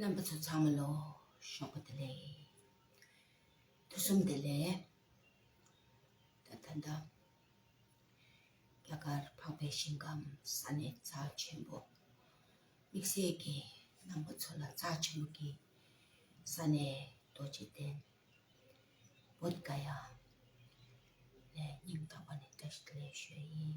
རྣམ་པ་ཚོ་ཚང་མ་ལོ་ཤོག་པ་དེ་ལས། ཐུ་སུམ་དེ་ལས། ད་ལྟ་འདི། རྒྱ་གར་འཕགས་པའི་ཞིང་ཁམས་ས་ནས་རྩ་ཆེན་པོ། དམིགས་བསལ་གྱི་རྣམ་པ་ཚོ་ལ་རྩ་ཆེན་པོ་གི་ས་ནས་རྡོ་རྗེ་གདན། བོད་དགའ་ཡ། ལས་སྙིང་ཐག་པ་ནས་བཀྲ་ཤིས་བདེ་ལེགས་ཞུ་བ་ཡིན།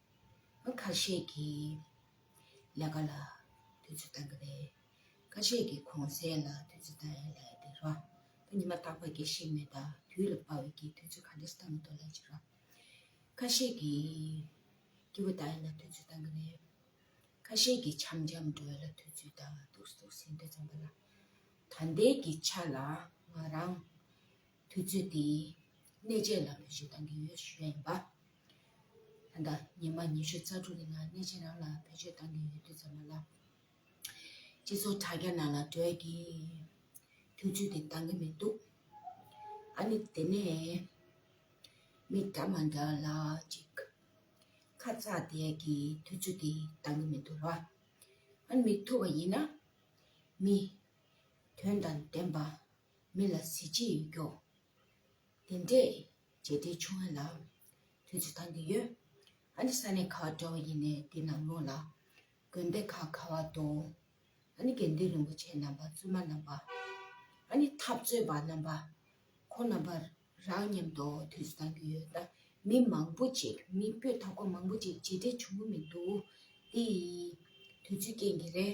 ཁ་ཤས་ཀྱི་ལས་ཀ་ལ་དུས་ཚོད་བཏང་གི་རེད། ཁ་ཤས་ཀྱི་གོང་གསལ་ལ་དུས་ཚོད་བཏང་ཡ་ལས་དེ་ར་ད་ཉི་མ་རྟག་པ་དགེ་བཤེས་མེད་ད་དུས་ལ་དཔའ་བའི་གིས་དུས་ཚོད་ག་འདྲས་བཏང་མི་འདུག་ལས་ཅི་ར། ཁ་ཤས་ཀྱི་སྐྱིད་པོ་བཏང་ཡ་ལ་དུས་ཚོད་བཏང་གི་རེད། ཁ་ཤས་ཀྱི་འཆམ་འཆམ་སྒྲོལ་ལ་དུས་ཚོད་བཏང་ཡ་འདུག་སུ་འདྲས་ཙམ་པ་ལ། ད་ལྟའི་གི་ཆ་ལ་ང་རང་དུས་ཚོད་འདིའི་གནས་ཆས་ལ་བེད་སྤྱོད་གཏང་གི་ཡོད་ཞུས་པ་ཡིན་པ། ད་ལྟ་ཉི་མ་ཉི་ཤུ་རྩ་དྲུག་གི་ནང་གནས་ཆས་རང་ལ་བེད་སྤྱོད་གཏང་གི་ཡོད་དུས་ཚོད་མ་ལབ། སྤྱི་ཚོགས་དྲ་རྒྱ་ནང་ལ་བགྲོད་ཀྱིས་དུས་ཚོད་དེ་གཏང་གི་མི་འདུག་ཨ་ནི་དེ་ནས་མི་འདྲ་མ་འདྲ་ལ་ཅིག་ཁ་ཚ་དེས་ཀྱིས་དུས་ཚོད་དེ་གཏང་གི་མི་འདུག་ར་ཨ་ནི་མི་ཐུབ་པ་ཡིན་ན་མི་དོན་དང་ལྡན་པ་མི་ལ་གཟི་བརྗིད་ཡོད་སྐྱོང། དེ་འདྲས་རྗེས་འབྲེལ་ཆུང་བ་ལ། དུས་ཚོད་ཐང་གི་ཡོད། ཨ་ནི་ས་ནས་ཁ་བ་འདྲ་བ་ཡིན་ནས་འདི་ནང་ལོག་ལ། དགོན་སྡེ་ཁག་ཁ་བ་དོང། ཨ་ནི་དགེ་འདུན་རིན་པོ་ཆེ་རྣམ་པ་བཙུན་མ་རྣམ་པ། ཨ་ནི་འཐབ་རྩོད་པ་རྣམ་པ། ཁོ་རྣམ་པ་རང་མཉམ་དུ་དུས་ཚོད་ཐང་གི་ཡོད། མི་མང་པོ་ཅིག་མི་སྤོས་ཐབས་གོ་མང་པོ་ཅིག་རྗེས་འབྲེལ་ཆུང་གི་མི་འདུག་དེ། དུས་ཚོད་རྐྱེན་གྱིས་རེད།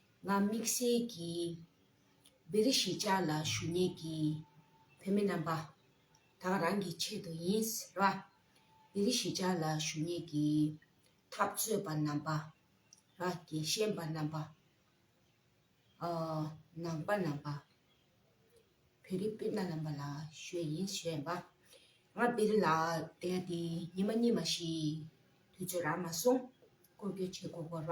ང་དམིགས་བསལ་གྱིས་བེ་རི་གཞིས་ཆགས་ལ་ཞུ་ཉེན་གྱི་བོད་མི་རྣམ་པ་དང་རང་གི་ཆེད་དུ་ཡིན་ཟེར་བ། བེ་རི་གཞིས་ཆགས་ལ་ཞུ་ཉེན་གྱི་འཐབ་རྩོད་པ་རྣམ་པ། རྒྱལ་གཤེན་པ་རྣམ་པ། ནང་པ་རྣམ་པ། བེ་རི་སྤུན་ཟླ་རྣམ་པ་ལ་ཞུ་ཡིན་བཤད་པ། ང་བེ་རི་ལ་བསྡད་དེ་ཉིན་མ་གཉིས་མ་ཞིག་དུས་ཚོད་རག་མ་སོང་སྐོར་སྐྱོད་བྱེད་དགོས་སྐོར་བ།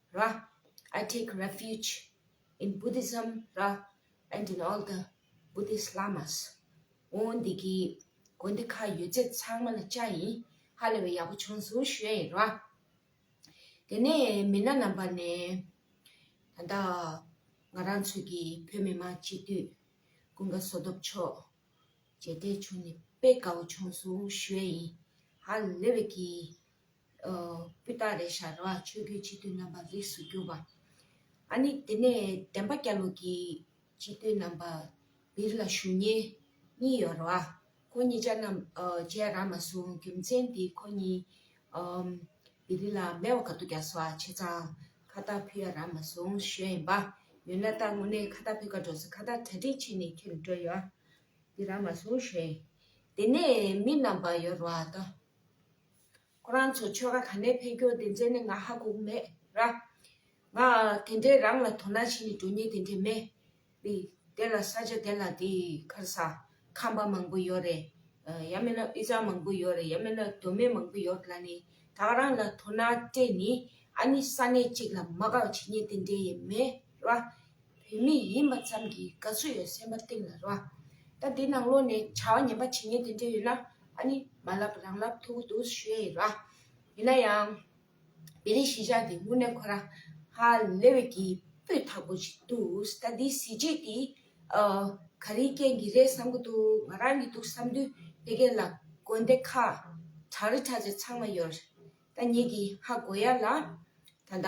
ར། I take refuge in Buddhism ར and in all the Buddhist Lamas ཨོ་འདི་གི་དགོན་སྡེ་ཁག་ཡོད་ཚད་ཚང་མ་ལ་བཅའ་ཡིན་ཧ་ལས་པའི་ཡག་པོ་བྱུང་སོང་བཤོས་ཡིན་ར། དེ་ནས་མི་སྣ་རྣམ་པ་ནས། ད་ལྟ་ང་རང་ཚོ་གི་བོད་མི་མང་སྤྱི་འཐུས་ཀུན་དགའ་བསོ་སྟོབས་མཆོག་མཇལ་འཕྲད་བྱུང་ནས་དཔེ་དགའ་བོ་བྱུང་སོང་བཤོས་ཡིན་ཧ་ལས་པའི་གི་སྤུས་དག་རེ་ཞར་བ་ཆོས་རྒྱུད་སྤྱི་འཐུས་རྣམ་པར་རིགས་སུ་གྱུར་པ། ཨ་ནི་དེ་ནས་བདེན་པ་སྐྱ་ལུགས་ཀྱི་སྤྱི་འཐུས་རྣམ་པ་བིར་ལ་ཞུ་ཉེ་གཉིས་ཡོར་བ། ཁོ་གཉིས་ཅག་རྣམས་བཅས་རག་མ་སོང་རྒྱུ་མཚན་དེ་ཁོ་གཉིས་བིར་ལ་མེ་བ་ག་ཏོ་རྒྱག་སོགས་བྱས་ཙང་ཁ་བརྡ་ཕུལ་ཡ་རག་མ་སོང་ཞོས་ཡིན་པ། ཡོད་ན་ད་ངོ་ནས་ཁ་བརྡ་ཕུལ་ཁ་འགྲོ་ས་ཁ་བརྡ་གྲ་སྒྲིག་བྱས་ནས་ཁྱེར་འགྲོ་ཡོད་དེ་རག་མ་སོང་ཞོས་དེ་ནས་མི་རྣམ་པ་ཡོར་བ་ད། ཁོ་རང་ཚོ་ཆོལ་ཁ་ག་ནས་ཕེབས་རྒྱུ་དེ་འཛིན་ནི་ང་ཧ་གོ་མེད་ར། ང་དེ་འདྲའི་རང་ལ་དོ་སྣང་བྱེད་ནི་གྲོ་ཉེ་དེ་འདྲའི་མེད་རེད། དེ་ལ་ས་ཆ་དེ་ལ་དེ་ཁར་ས་ཁམས་པ་མང་པོ་ཡོད་རེད། ཡང་མིན་ན་དབུས་གཙང་མང་པོ་ཡོད་རེད་ཡང་མིན་ན་གདོད་མའི་མང་པོ་ཡོད་ལ་ནི་དག་རང་ལ་དོ་སྣང་སྤྲད་ནི་ཨ་ནི་ས་གནས་གཅིག་ལ་མ་དགག་བྱེད་ཉེ་དེ་འདྲའི་ཡེ་མེད་ར། བོད་མི་ཡིན་པ་ཙམ་གྱིས་དགའ་བསུ་ཡོད་སེམས་པ་གཏིང་ལ་རོལ། ད་དེ་ནང་ལོགས་ནས་བྱ་བ་ངན་པ་བྱེད་ངེས་དེ་འདྲས་ཡོད་ན་ཨ་ནི་མ་ལབ་རང་ལབ་ཐུག་གི་འདུག་ཞུས་ཡིན་ར། ཡིན་ན་ཡང། བེ་རི་གཞིས་ཆགས་འདི་དངོས་གནས་ཁོ་ར་ཧ་ལེ་བེ་གི་སྤུས་དག་པོ་ཞིག་འདུག་ད་འདི་གཟི་བརྗིད་འདི་ག་རིའི་རྐྱེན་གྱིས་རེད་བསམ་གི་འདུག་ང་རང་གིས་འདུག་བསམ་དུས་དེ་གས་ལ་དགོན་སྡེ་ཁ་གྲགས་རི་གྲགས་ཅན་ཚང་མ་ཡོད་རེད་ད་ཉིད་ཀྱི་ཧ་གོ་ཡ་ལ། ད་ད།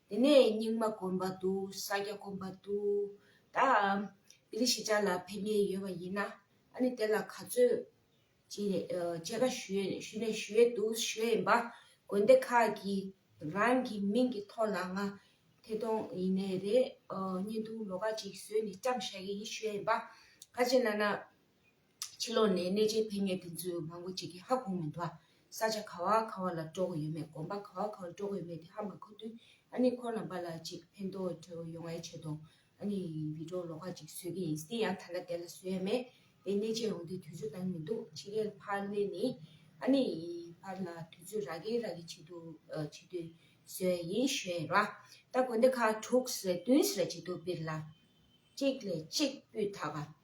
དེ་ནས་རྙིང་མ་དཀོན་པ་འདུག་ས་སྐྱ་དཀོན་པ་འདུག་ད་འདི་ལ་ཞེ་ཆགས་ལ་ཕན་ངེས་ཡོད་པ་ཡིན་ན་ཨ་ནི་དེ་ལ་ག་ཚོད་ཅེས་ཀ་ཞུས་ནས་ཞུས་འདུག་ཞུས་ཡིན་པ་དགོན་སྡེ་ཁག་གི་རང་གི་མིང་གི་ཐོག་ལ་ང་ཐེ་གཏོང་ཡིན་ནས་རེད་བརྙན་ཐུང་ལོ་ག་ཅིག་བཟོས་ནས་བཀྲམ་ཤག་གི་ཡིན་ཞུས་ཡིན་པ་ག་ཅིག་ལ་ན། ཕྱི་ལོགས་ནས་གནས་ཆེན་འཕེལ་ངེས་དེ་ཚོའི་ངོ་རྒོལ་བྱེད་མཁན་ཧ་གོ་མི་འདུག་ཨ། ས་ཆ་ག་བ་ག་བ་ལ་སྤྲོ་བོ་ཡོད་མེད་གོམ་པ་ག་བ་ག་བ་སྤྲོ་བོ་ཡོད་མེད་དེ་ཧ་མ་གོ་དུས་ཨ་ནི་ཁོ་རྣམས་པ་ལ་ཅིག་ཕན་ཐོག་ཁྲོལ་བོ་ཡོང་ཡ་ཆེད་དུང་ཨ་ནི་བི་དྲོ་ལོ་ཁ་ཅིག་བཟོས་ཀྱི་ཡིན་སྲིད་ཡང་ཐ་ན་དེ་ལ་བཟོས་ཡ་མེད་དེ་གནས་ཆེན་ཡོང་དུས་དུས་ཚོད་བཏང་མི་འདུག་ཕྱི་རྒྱལ་ཕར་གནས་ནས་ཨ་ནི་ཕར་ལ་དུས་ཚོད་རག་གི་རག་གི་བྱེད་དུ་བྱེད་དུས་བཟོས་ཡ་ཡིན་ཞེས་ར་ད་དགོན་སྡེ་ཁག་དྲུག་ཟེར་བདུན་ཟེར་བྱེད་དུ་སྤེར་ལ་ཅིག་ལས་ཅིག་སྤུས་དག་པ།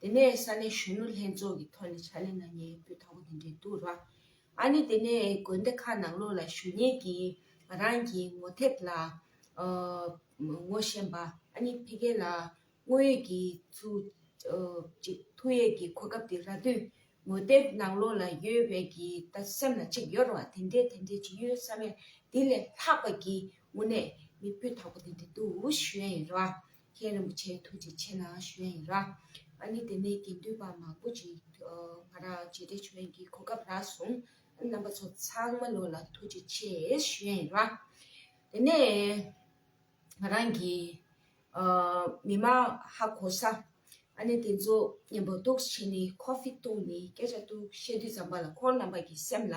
དེ་ནས་ས་གནས་གཞོན་ནུ་ལྷན་ཚོགས་ཀྱི་ཐོག་ནས་ཕྱག་ལེན་གནང་མཁན་ཡོད་པའི་ཐོག་གོ་དེ་འདྲའི་འདུག་ར། ཨ་ནི་དེ་ནས་དགོན་སྡེ་ཁག་ནང་ལོགས་ལ་གཞོན་ཉེ་ཀྱིས་ང་རང་གི་ངོ་དེབ་ལ། ངོ་བཞེངས་པ་ཨ་ནི་ཕེ་གེ་ལ་དངོས་ཡོད་ཀྱི་ཚུ། ཅིག་ཐུགས་ཡས་ཀྱི་གོ་སྐབས་དེ་ར་དུས་ངོ་དེབ་ནང་ལོགས་ལ་ཡོད་བས་ཀྱི་ད་སེམས་ལ་ཅིག་ཡོད་ར་དེ་འདྲའི་དེ་འདྲའི་ཅིག་ཡོད་བསམ་ཡས་དེ་ལས་ལྷག་པ་ཀྱི་དངོས་གནས་མི་སྤུས་དག་པོ་དེ་འདྲའི་འདུག་ཞུ་ཡས་ཡིན་ར། མཁན་རིན་པོ་ཆེའི་ཐུགས་རྗེ་ཆེ་ལ་ཞུ་ཡ་ཡིན། ཨཱ་ནི་དེ་ནས་དགེ་འདུན་པ་མང་པོ་ཅིག་ང་ར་རྗེ་འདྲེ་ཆོས་ཀྱི་གོ་སྐབས་རག་སོང། རྣམ་པ་ཚོ་ཚང་མ་ལོ་ལ་ཐུགས་རྗེ་ཆེ་ཞུ་ཡ་ཡིན། དེ་ནས་ང་རང་གི་མི་མ་ཧ་གོ་ས་ཨཱ་ནི་དེ་ཚོ་མཉམ་པོ་འདུག་བྱས་ནས་ཁོ་ཕི་ཏུང་ནས་སྐད་ཆ་འདུག་བཤད་དུས་ཙམ་པ་ལ་ཁོ་རྣམ་པ་གྱི་སེམས་ལ།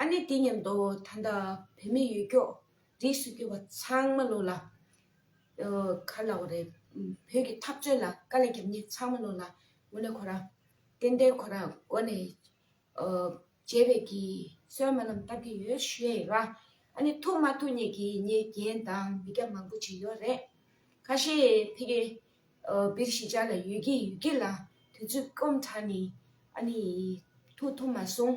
ཨ་ནི་དེ་སྙམ་དུ་ད་ལྟ་བུད་མེད་ཡོད་སྐྱོགས་རིས་སུ་གྱུར་པ་ཚང་མ་ལོག་ལ། གར་ལ་བ་རེད། བོད་ཀྱི་འཐབ་རྩོད་ལ་དཀའ་ལས་རྒྱབ་མཁན་ཚང་མ་ལོག་ལ། ངོ་ནས་ཁོ་རང་ཏན་ཏན་ཁོ་རང་མགོ་ནས་བརྗེད་པའི་གི་སོན་མ་རྣམས་བཏབ་ཀྱི་ཡོད་ཤེས་ཡོད་ར། ཨ་ནི་ཐུག་མ་ཐུག་གཉིས་ཀྱི་ཉེས་རྒྱན་དང་མི་རྒྱ་མང་པོ་བྱས་ཡོད་རེད། ཁ་ཤས་ཕི་གེ་བིར་ཞི་ཅག་ལ་ཡོད་ཀྱི་ཡོད་ཀྱི་ལ་དུས་ཚོད་སྐོམ་དྲགས་ནས་ཨ་ནི་ཐུག་ཐུབ་མ་སོང།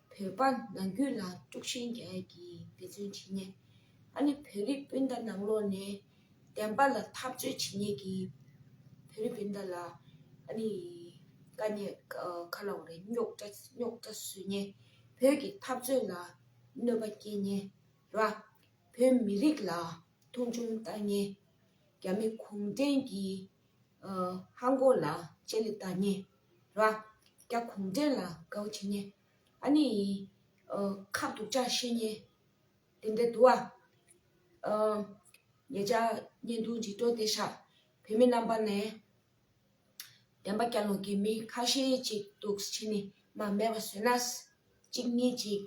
བོད་པ་ནང་རྒྱུད་ལ་དཀྲུགས་ཤིང་རྒྱག་གི་འདི་ཚོའི་བྱས་ཉེས་ཨ་ནི་བོད་རིགས་སྤུན་ཟླ་ནང་ལོགས་ནས་བདེན་པ་ལ་ཐག་གཅོད་བྱས་ཉེས་ཀྱི་བོད་རིགས་སྤུན་ཟླ་ལ་ཨ་ནི་དཀའ་ཉེས་ཁ་ལོ་རེ་རྙོག་དྲ་རྙོག་དྲ་བཟོས་ཉེས་བོད་ཀྱི་འཐབ་རྩོད་ལ་གནོད་པ་སྐྱེལ་ཉེས་ར་བོད་མི་རིགས་ལ་མཐོང་ཆུང་བཏགས་ཉེས་རྒྱ་མི་གུང་བྲན་གྱི་ཧ་མགོ་ལ་ལྕེ་ལེ་བཏགས་ཉེས། ར་སྐྱ་གུང་བྲན་ལ་དགའ་བོ་བྱེད་ཉེ། ཨ་ནི་ཁ་སྡུག་ཅག་བཤད་ཉེ། དེ་འདྲའི་དུ་བ། ངེད་ཅག་གཉེན་སྡུག་འཇིགས་སྐྲོག་དེ་ཤག་བོད་མི་རྣམ་པ་ནས། བདེན་པ་སྐྱ་ལུང་གི་མི་ཁ་ཤས་ཅིག་འདུག་ཕྱི་ནི་མ་མེད་པ་བཟོས་ན། གཅིག་གཉིས་ཅིག་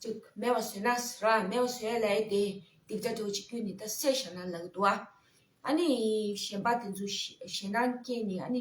ཅིག་མེད་པ་བཟོས་ན། ར་མེད་པ་བཟོས་ལས་དེ་སྡིག་ཅག་འདྲ་བོ་ཅིག་རྒྱུད་ནི་ད་སད་ཤག་ན་ལག་གི་དུ་བ། ཨ་ནི་གཞན་པ་དེ་ཚོ་ཞེ་སྣང་སྐྱེས་ནི་ཨ་ནི་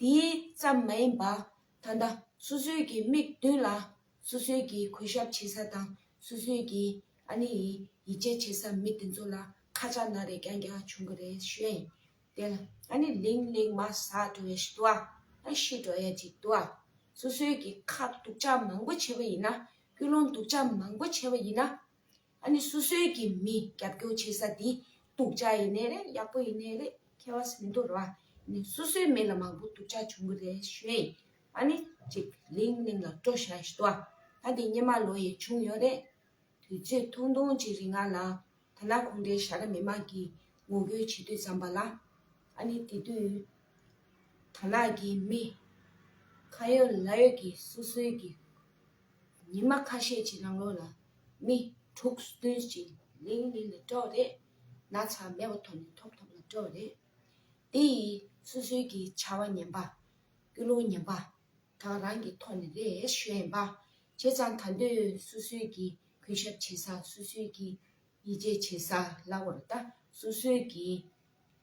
དེ་ཙམ་མ་ཡིན་པར་ད་ལྟ་སོ་སོའི་གི་དམིགས་མདུན་ལ་སོ་སོའི་གི་གུས་ཞབས་བྱེད་ས་དང་སོ་སོའི་གི་ཨ་ནེ་ཡི་ཡིད་ཆེས་བྱེད་ས་མི་དེ་ཚོ་ལ་ཁ་ཆག་ན་རེ་ཀྱང་ཀྱང་བྱུང་གི་རེད་ཤོད་དེར་ཨ་ནེ་ལིང་ལིང་མ་ཟ་འགྲོ་བའི་ཞི་དུ་ཨ་ཤི་འགྲོ་ཡ་ཅིག་དུ་ཨ་སོ་སོའི་གི་ཁ་སྡུག་ཅག་མང་པོ་བྱས་པ་ཡིན་ན་སྐུལ་སློང་སྡུག་ཅག་མང་པོ་བྱས་པ་ཡིན་ན་ཨ་ནི་སོ་སོའི་གི་མི་རྒྱབ་སྐྱོར་བྱེད་ས་དེ་སྡུག་ཅག་ཡིན་ནི་རེད་ཡག་པོ་ཡིན་ནི་རེད་མཁས་བ་ཟིན་དོ་ར་ནི་སོ་སོའི་མི་ལ་མང་པོ་སྡུག་ཅག་བྱུང་གི་རེད་ཤོད་ཡིན་ཨ་ནི་ཅིག་ལིང་གླིང་ལ་སྤྲོ་བཞག་ཞི་དོ་ད་དེ་སྙེ་མ་ལོ་ཡི་བྱུང་ཡོད་རེད་དུས་ཚོད་ཐུང་ཐུང་ཅིག་རིང་ང་ལ་ཐ་ན་ཁོང་རེ་ཞར་མི་མང་གི་ངོ་རྒོལ་བྱེད་དུས་ཙམ་པ་ལ་ཨ་ནི་དེ་དུས་ཐ་ན་གི་མི་ཁ་ཡོད་ལ་ཡོད་གི་སོ་སོའི་གི། ཉི་མ་ཁ་ཤས་ཀྱི་རང་ལོ་ལ་མི་དྲུག་བདུན་གྱི་ལིང་ལིང་ལ་སྤྲོ་རེས་ན་ཚ་མེད་པ་ཐོབ་ནས་ཐོབ་ཐོབ་ལ་སྤྲོ་རེས་དེ་ཡིས་སུ་སུའི་གི་བྱ་བ་ཉན་པ་སྐུ་ལུང་ཉན་པ་དང་རང་གི་ཐོག་ནས་རེས་གཞོན་པ་བྱས་ཙང་ད་འདོད་སུ་སུའི་གི་གུས་ཞབས་བྱེད་ས་སུ་སུའི་གི་ཡིད་ཆེས་བྱེད་ས་ལ་བོར་ད་སུ་སུའི་གི།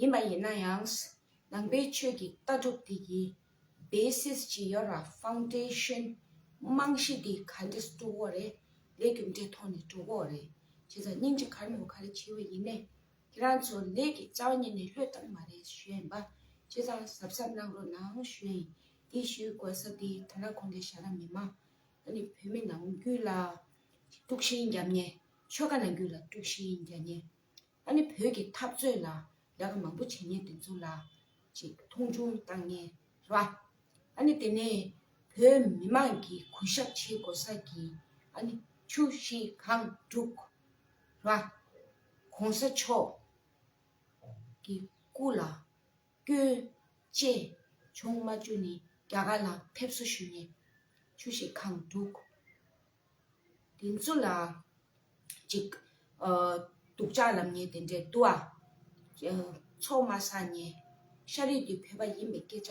ཡིན་པ་ཡིན་ན་ཡང། ནང་པའི་ཆོས་ཀྱི་ལྟ་གྲུབ་དེ་ཀྱི Basis ཇི་ཡོད་ར Foundation རྨང་གཞི་དེ་ག་འདྲས་སུ་དཀྲུག་འོ་རེད་ལས་རྒྱུ་འབྲས་ཐོག་ནས་དཀྲུག་འོ་རེད་བྱས་ཙང་སྙིང་རྗེ་གར་ནོར་ག་རེ་བྱས་བས་ཡིན་ནས་ཁྱེད་རང་ཚོ་ལས་ཀྱི་རྩ་བ་ཉིད་ནས་ལྷོད་བཏང་མ་རེད་གཞོན་པ་བྱས་ཙང་གཟབ་གཟབ་གནང་རོགས་གནང་གཞོན་དེ་ཞུས་དགོས་ས་དེ་ད་ར་གོང་གི་ཤ་ར་མི་མང་ད་ནི་བོད་མི་ནང་རྒྱུད་ལ་དཀྲུག་ཤིང་རྒྱབ་ཉེ་ཆོལ་ཁ་ནང་རྒྱུད་ལ་དཀྲུག་ཤིང་རྒྱ་ཉེ་ད་ནི་བོད་ཀྱི་འཐབ་རྩོད་ལ་རྒྱ་ཁ་མང་པོ་བྱེད་ངེས་དེ་ཚོ་ལ་ཅིག་མཐོང་ཆུང་བཏང་ངེས་རེད་བ། ད་ནི་དེ་ནས་བོད་མི་མང་གི་གུས་ཞབས་བྱེད་དགོས་ས་གི་ད་ནི་ཆུ་བཞི་གང་དྲུག་རེད་བ། གོང་ས་མཆོག་གི་སྐུ་ལ་སྐྱོན་བཅས་བྱུང་མ་བཅུ་ནི་རྒྱ་གར་ལ་ཕེབས་བསུ་ཞུས་ནས་ཆུ་བཞི་གང་དྲུག་དེ་ཚོ་ལ། གཅིག། སྡུག་ཅག་ལམ་ཉེས་དེ་འདྲའི་དུ་བ། ཚོགས་མ་ཟ་ཉེས། ཤ་རིགས་དེ་བོད་པ་ཡིན་པའི་སྐད་ཆ།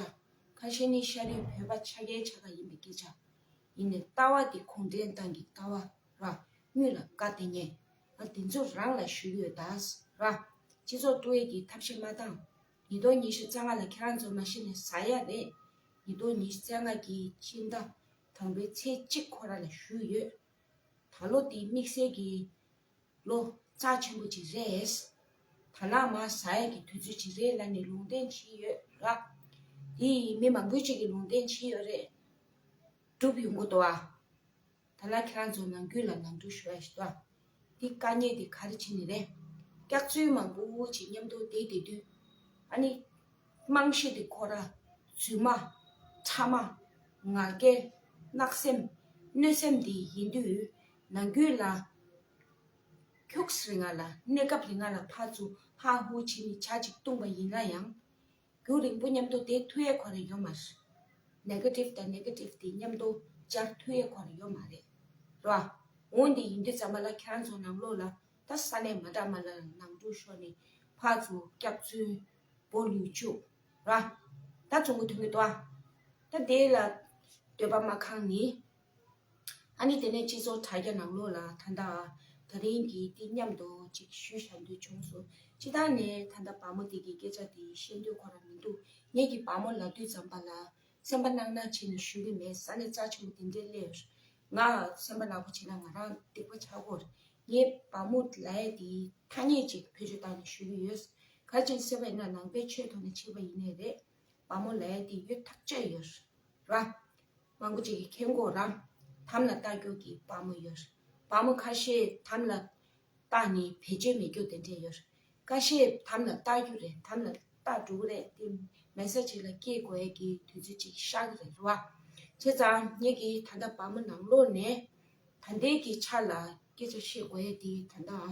ཁ་ཤས་ནི་ཤ་རིགས་བོད་པ་ཆ་རྒྱལ་ཆ་ག་ཡིན་པའི་སྐད་ཆ། ཡིན་ནས་ལྟ་བ་དེ་གུང་བྲན་ཏང་གི་ལྟ་བ། རང་ཉུད་ལ་དགའ་དེ་ཉེས། ང་དེ་ཚོ་རང་ལ་ཞུ་ཡོད་ད། རང། སྤྱི་ཚོགས་བཀྲུ་བའི་གི་ཐབས་ཤེས་མ་བཏང། ཉིས་སྟོང་ཉི་ཤུ་རྩ་ལྔ་ལ་ཁྱེད་རང་ཚོ་མ་ཤི་ནས་ཟ་ཡ་རེད། ཉིས་སྟོང་ཉི་ཤུ་རྩ་ལྔ་གི་སྤྱི་ཟླ། དང་པོའི་ཚེས་གཅིག་ཁོ་ར་ལ་བཞུགས་ཡོད། ད་ལོ་དེ་དམིགས་བསལ་གྱི་ལོ་ཙཱ་ཆེན་པོ་ཅིག་རེད། ད་ལག་མ་ཟ་ཡས་ཀྱི་དུས་ཚོད་ཅིག་རེད་ལ་ནི་ལུང་བསྟན་བྱས་ཡོད་ལ། དེ་ཡི་མི་མང་པོས་ཅིག་གིས་ལུང་བསྟན་བྱས་ཡོད་རེད། སྒྲུབ་ཡོང་གོ་ཏོ་ཨ། ད་ལག་ཁྱེད་རང་ཚོ་ནང་རྒྱུད་ལ་ནང་དུ་ཞུ་བ་ཞིག་ཏོ་ཨ། འདི་དཀའ་རྙེད་འདི་ག་རེ་བྱེད་ནི་རེད། སྐྱག་རྫུན་མང་པོ་འུར་བྱེད་སྙམ་དུ་དེད་དེ་དུས། ཨ་ནི། དམངས་གཞས་འདི་ཁོ་ར། རྫུན་མ། ཕྲ་མ། ང་རྒྱལ། གནག་སེམས། གནོད་སེམས་འདི་ཡིན་དུས། ནང་རྒྱུད་ལ། ཁྱུགས་རེ་ང་ལ་གནས་སྐབས་རེ་ང་ལ་ཕ་ཚུ་ཧ་ཧུ་བྱེད་ནི་བྱ་ཅིག་བཏུང་བ་ཡིན་ན་ཡང། རྒྱུ་རིང་པོ་མཉམ་དུ་དེ་མཐུ་ཡས་གོ་རེ་ཡོད་མ་རེད། Negative དང Negative དེ་མཉམ་དུ་སྦྱར་མཐུ་ཡས་གོ་རེ་ཡོད་མ་རེད། ར། འོན་ཏེ་ཡིན་དུས་ཙམ་པ་ལ་ཁྱེད་རང་ཚོ་ནང་ལོགས་ལ་ད་ས་གནས་མ་འདྲ་མ་ལ་རང་ནང་འགྲོ་ཤོག་ནས་ཕ་ཚོ་སྐྱག་རྫུན་བོ་ལུས་བཅུག་ར། ད་ཚོང་གི་དོན་མི་འདུག་ཨ། ད་དེ་ལ་འདོད་པ་མ་ཁང་ནི་ཨཱ་ནི་དེ་ནས་སྤྱི་ཚོགས་དྲ་རྒྱ་ནང་ལོགས་ལ་ད་ལྟ་ཨ་ད་རིང་གིས་འདི་སྙམ་དུ་ཅིག་ཞུས་བྱ་འདོད་བྱུང་སོ་ཅི་ད་ནས་ད་ལྟ་བ་མོ་དེ་གི་སྐད་ཆ་དེ་བཤད་འདོད་ཁོ་རང་མི་འདུག་ངེད་ཀྱི་བ་མོ་ལ་དུས་ཙམ་པ་ལ་སེམས་པ་གནག་གནག་བྱེད་ནས་ཞུས་གི་མེད་ས་ནས་རྩ་ཆེན་པོ་དེ་འདྲའི་སླེར་ང་སེམས་པ་གནག་པོ་བྱེད་ན་ང་རང་སྡིག་པ་བྱ་གོ་ངའི་བ་མོ་ལའི་དེ་ཐ་སྙད་ཅིག་བེད་སྤྱོད་བཏང་ནས་ཞུས་གི་ཡོད་གལ་ཆེན་སེམས་པའི་ན་ནང་པའི་ཆོས་ཐོག་ནས་བྱས་པ་ཡིན་ནས་རེད་བ་མོ་ལའི་དེ་ཡོད་ཐག་བཅད་ཡོད་ར། མང་པོ་ཅིག་གིས་ཁེ་འགོག་རམ་དམ་ལ་བཏགས་རྒྱུ་གི་བ་མོ་ཡོད། བ་མོ་ཁ་ཤས་དམ་ལ་བཏགས་ནས་བེད་སྤྱོད་མི་རྒྱུ་དེ་འདྲས་ཡོད། ཀ་ཤས་དམ་ལ་བཏགས་རྒྱུ་རེད་དམ་ལ་བཏགས་འགྲོ་གི་རེད་དེ་མལ་ས་ཅིག་ལ་སྐྱེལ་དགོས་ཀྱི་དུས་ཚོད་ཅིག་ཤར་གི་རེད་བ། བྱས་ཙང་ངེད་ཀྱིས་ད་ལྟ་བ་མོ་ནང་ལོགས་ནས་ད་ལྟའི་གི་ཆ་ལ་སྐད་ཆ་བཤད་དགོས་ཡས་དེ་ད་ལྟའང།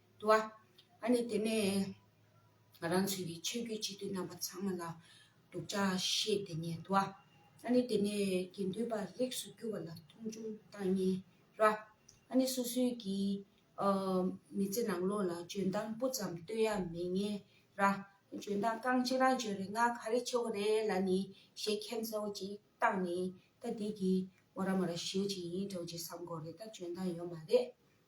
བ། ཨ་ནི་དེ་ནས་ང་རང་ཚོས་ཀྱི་ཆོས་བརྒྱུད་སྤྱི་འཐུས་རྣམ་པ་ཚང་མ་ལ་སྡུག་ཅག་བཤད་དེ་ཉལ་བ། ཨ་ནི་དེ་ནས་དགེ་འདུན་པ་རིགས་སུ་གྱུར་བ་ལ་མཐོང་ཆུང་བཏང་ཉལ་བ། ཨ་ནི་སོ་སོའི་ཀྱི་མི་ཚེ་ནང་ལོགས་ལ་འཇོན་ཐང་སྤུ་ཙམ་བསྟོད་ཡ་མི་ཉལ་བ། འཇོན་ཐང་རྐང་གཅིག་རང་བྱོན་རེད་ང་ག་རེ་ཆོ་ག་རེད་ལ་ནི་ཞེས་མཁྱེན་གསལ་བོ་ཅིག་བཏང་ནས་ད་འདི་གི་མོ་ར་མོ་ར་ཞེའུ་ཅིག་ཡིན་འདྲ་བོ་ཅིག་བསམ་དགོས་རེད་ད་འཇོན་ཐང་ཡོད་མ་རེད།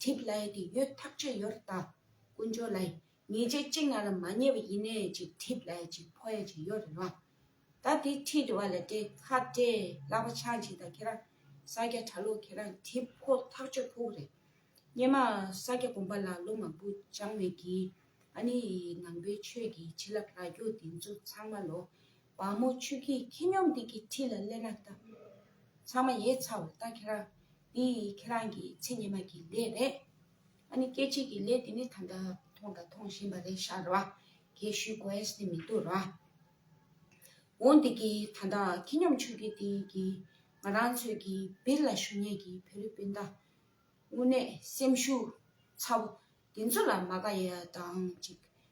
གྲིབ་ལ་ཡི་གེ་ཡོད་ཐག་ཆོད་ཡོད་རེད་ད། དཀོན་མཆོག་ལ་ཡི། ངེས་ཅན་གཅིག་ང་ལ་མ་ཉེ་བ་ཡིན་ནས་ཅིག་གྲིབ་ལ་ཡི་ཅིག་ཕོ་ཡ་ཅིག་ཡོད་རེད་ལ། ད་དེ་ཁྲིད་འདྲི་བ་ལ་དྲེ་ཁ་དྲེ་ལག་པ་ཆག་འཇིག་ད་ཁྱེད་རང་ས་སྐྱ་གྲ་ལོག་ཁྱེད་རང་གྲིབ་ཁོ་ཐག་ཆོད་ཕུག་རེད། སྙེ་མ་ས་སྐྱ་དགོན་པ་ལ་ལོ་མང་པོ་སྦྱང་བའི་གིས་ཨ་ནི་ནང་པའི་ཆོས་ཀྱི་བྱིན་རླབས་ལ་རྒྱུག་འདི་ཚོ་ཚང་མ་ལོ་བ་མོ་ཆུ་སྐྱེས་ཁྱི་སྙོམས་སྟེགས་ཀྱི་ཁྲི་ལ་སླེབས་ན་བལྟ། ཚང་མ་ཡས་ཚ་བོ་ལྟ་ཁྱེད་རང། འདི་ཁྱེད་རང་གི་ཚེ་སྙེ་མ་གི་ལས་རེད། ཨ་ནི་སྐད་ཅིག་གི་ལས་འདི་ནི་ད་ལྟ་མཐོང་དང་མཐོང་བཞིན་པ་རེད་ཤག་ར། གས་ཤུལ་གོ་ཨེས་ནི་མི་འདུག་ར། འོ་འདི་གི་ད་ལྟ་ཁྱི་སྙོམས་ཆུ་སྐྱེས་སྟེང་གི་ང་རང་ཚོས་གི་བིར་ལ་ཞུ་ཉེས་གི་བོད་རི་སྤུན་ཟླ། དངོས་གནས་སེམས་ཤུགས་ཚ་བོ་འདི་ཚོ་ལ་མ་དགའ་ཡས་དང་ཅིག་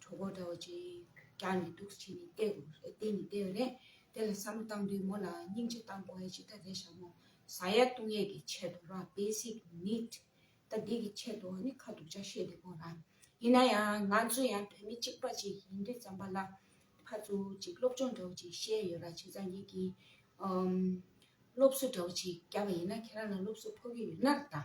གྲོགས་པོ་འདྲ་བ་ཅིག་རྒྱག་ནས་འདུག་ཅེས་ནི་བལྟས་དགོས་རེད་བལྟས་ནི་བལྟས་རེད་དེ་ལ་བསམ་བློ་བཏང་དུས་མོ་ལ་སྙིང་རྗེ་བཏང་དགོས་ཡ་ཇི་ལྟར་རེད་བཞག་མོ་ཟ་ཡ་བཏུང་ཡས་ཀྱི་ཆེད་དུ་རང basic need ད་འདི་གི་ཆེད་དུ་ནི་ཁ་སྡུག་ཅག་བཤད་འདི་པོ་རང་ཡིན་ན་ཡང་ང་ཚོ་ཡང་བོད་མི་གཅིག་པ་ཅིག་ཡིན་དུས་བརྩམས་པ་ལ་ཕར་ཚུར་ཅིག་སློབ་སྦྱོང་འདྲ་བོ་ཅིག་བཤད་ཡོད་ར་བྱེད་ཙང་ཡིག་གི་སློབ་གསོ་འདྲ་བོ་ཅིག་རྒྱབ་པ་ཡིན་ན་ཁྱེད་རང་ལ་སློབ་གསོ་ཕོག་གི་ཡོད་ན་ར་ད།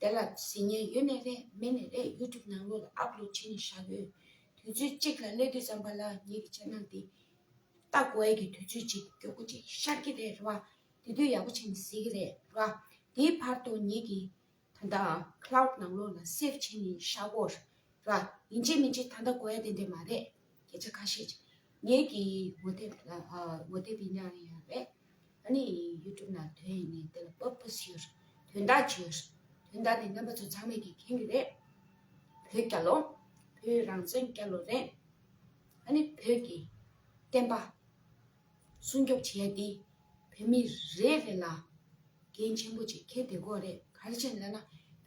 དེ་ལ་གཟི་ཉལ་ཡོད་ནས་རེས་མེད་ནས་རེས་གཡུལ་འཁྲུག་ནང་ལོགས་ལ་ཨབ་ལོ་བྱས་ནས་བཞག་ཡོད། དུས་ཚོད་གཅིག་ལ་སླེ་དུས་ཙམ་པ་ལ་ངེད་ཀྱི་ཆ་ནང་དེ། སྟག་གོ་ཨེ་གི་དུས་ཚོད་ཅིག་མགྱོགས་པོ་ཅིག་ཤར་གྱི་རེད་རེད་བ། དེ་དུས་ཡག་པོ་བྱས་ནས་བཟི་གི་རེད་རེད་བ། དེའི་བར་དུ་ངེད་ཀྱི། ད་ལྟ་ཨ Cloud ནང་ལོགས་ལ Save བྱས་ནས་བཞག་གོ། རེད་བ། ཡིན་གཅིག་མིན་གཅིག་ད་ལྟ་གོ་ཨེ་དེ་འདྲས་མ་རེད། སྐད་ཆ་ཁ་ཤས་ངེད་ཀྱི་ངོ་དེབ་ལ་ངོ་དེབ་ཡིན་ཡང་ཡོད་པས་ད་ནི YouTube ནང་དོན་ཡིན་ནས་དེ་ལ་བབ་བབ་ཞུས། དོན་དག་བརྗོད། དོན་དག་ནི་རྣམ་པ་ཚོ་ཚང་མས་ཀྱིས་མཁྱེན་གྱི་རེད། བོད་རྒྱ་ལོ། བོད་རང་བཙན་རྒྱ་ལོ་རེད། ད་ནི་བོད་ཀྱི་བསྟན་པ་སྲུང་སྐྱོབ་བྱས་ཏེ་བོད་མི་རེ་རེ་ལ་འགན་ཆེན་པོ་ཅིག་འཁྱེར་བདེ་དགོས་རེད་ག་རེ་བྱེད་ན་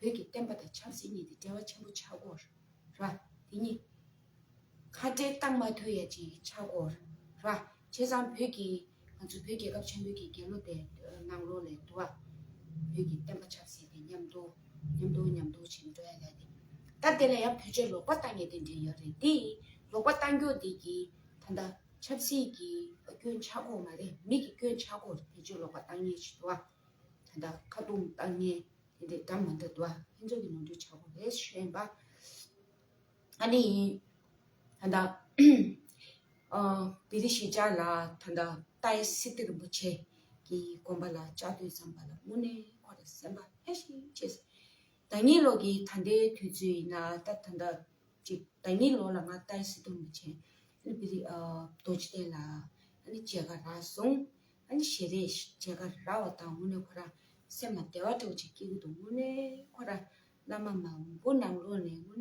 བོད་ཀྱི་བསྟན་པ་དང་ཆབ་སྲིད་གཉིས་དེ་འབྲེལ་བ་ཆེན་པོ་ཆགས་དགོས་ར་དེ་གཉིས། ཁ་བྲལ་བཏང་མ་ཐོས་ཡ་ཅི་ཆགས་སྒོ་ར། བྱས་ཙང་བོད་ཀྱི་ང་ཚོ་བོད་རྒྱལ་ཁབ་ཆེན་པོའི་གི་རྒྱལ་ལོ་དེ་ནང་ལོ་ལས་དུ་བ། བོད་ཀྱི་བསྟན་པ་ཆགས་སྲིད་དེ་ཉམས་དོ། ཉམས་དོ་ཉམས་དོ་བྱེད་མི་འགྲོ་ཡ་ལ་དེ། ད་དེ་ལ་ཡང་བོད་ཆས་ལོག་པ་བཏང་ཡ་དེ་འདྲས་ཡོད་རེད་དེ། ལོག་པ་བཏང་རྒྱུ་དེ་གི་ད་ལྟ་ཆབ་སྲིད་ཀྱི་སྐྱོན་ཆགས་སྒོ་མ་རེད་མི་གི་སྐྱོན་ཆགས་སྒོ་རེད་བོད་ཆས་ལོག་པ་བཏང་ཉེན་ཆེ་དུ་བ། ད་ལྟ་ཁ་རྡུང་བཏང་ཉེན་དེ་འདྲས་གྲམ་མ་འདྲ་དུ་བ་ཕན་ཚུན་གི་ནོར་འཁྲུལ་ཆགས་སྒོ་རེད་ཤེས་པ། ཨ་ནི་ཡིན། ད་ལྟ། བི་རི་ཤི་ཅཱ་ལ་ད་ལྟ་ཏཱའི་སི་ཏི་རིན་པོ་ཆེ་གི་དགོན་པ་ལ་བཅའ་སྡོད་བརྩམས་པ་ལ་དངོས་གནས་ཁོ་ལ་སེམས་པ་ཧེ་ཧྲིག་ཆེ། ད་ངེད་ལོག་གི་ད་ལྟའི་དུས་ཚོད་ཡིན་ན་ད་ད་ད་ཅིག་ད་ངེད་ལོག་ལ་ང་ཏཱའི་སི་ཏི་རིན་པོ་ཆེ་ཨ་ནི་བི་རི་རྡོ་རྗེ་གདན་ལ་ཨ་ནི་མཇལ་ཁ་རག་སོང། ཨ་ནི་ཞེས་རེས་མཇལ་ཁ་རག་བ་དང་དངོས་གནས་ཁོ་རང་སེམས་ལ་བདེ་བ་འདྲ་བོ་ཅིག་སྐྱེ་གི་འདུག་དངོས་གནས་ཁོ་རང་བླ་མ་མང་པོ་ནང་ལོགས་ནས་དངོས་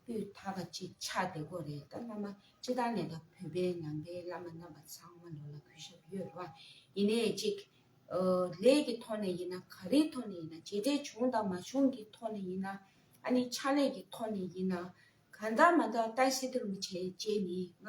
གནས་སྤུས་དག་པ་ཅིག་ཆགས་བསྡད་སྐོར་རེད་ད་བླ་མ་སྤྱི་བཏང་ནས་ད་བོད་པའི་ནང་པའི་བླ་མ་རྣམ་པ་ཚང་མ་ནོར་ལ་གུས་ཞབས་ཡོད་རེད་བ་ཡིན་ནས་ཅིག། ལས་ཀྱི་ཐོག་ནས་ཡིན་ན་ག་རེའི་ཐོག་ནས་ཡིན་ན་བྱས་འབྲས་བྱུང་དང་མ་བྱུང་གི་ཐོག་ནས་ཡིན་ན་ཨ་ནི་ཕྱག་ལས་ཀྱི་ཐོག་ནས་ཡིན་ན་གང་དག་མ་དག་ཏཱའི་སི་ཏུ་རུ་བྱས་བྱས་ནི་ང་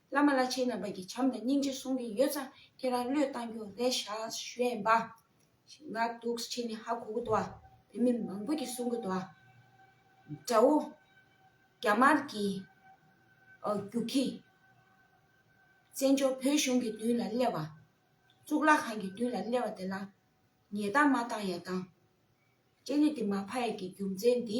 བླ་མ་བླ་ཆེན་རྣམ་པ་གྱི་བྱམས་དང་སྙིང་རྗེ་གསུང་གིས་ཡོད་ཙང་ཁྱེད་རང་བློས་བཏང་རྒྱུ་རེད་ཤག་གཞོན་པ། ང་སྡུག་ཆེ་ནི་ཧ་གོ་གི་འདུག་བ་བོད་མི་མང་པོ་གྱི་གསུང་གི་འདུག་བ། དགྲ་བོ། རྒྱ་དམར་གྱི། རྒྱུག་ཁྱི། བཙན་བྱོལ་བོད་གཞུང་གི་མདུན་ལ་སླེབས་བ། གཙུག་ལག་ཁང་གི་མདུན་ལ་སླེབས་བ་དེ་ལ། ཉེས་བཏང་མ་བཏང་ཡ་བཏང། ལྕེ་ལེ་དེ་མ་ཕ་ཡ་གི་རྒྱུ་མཚན་འདི།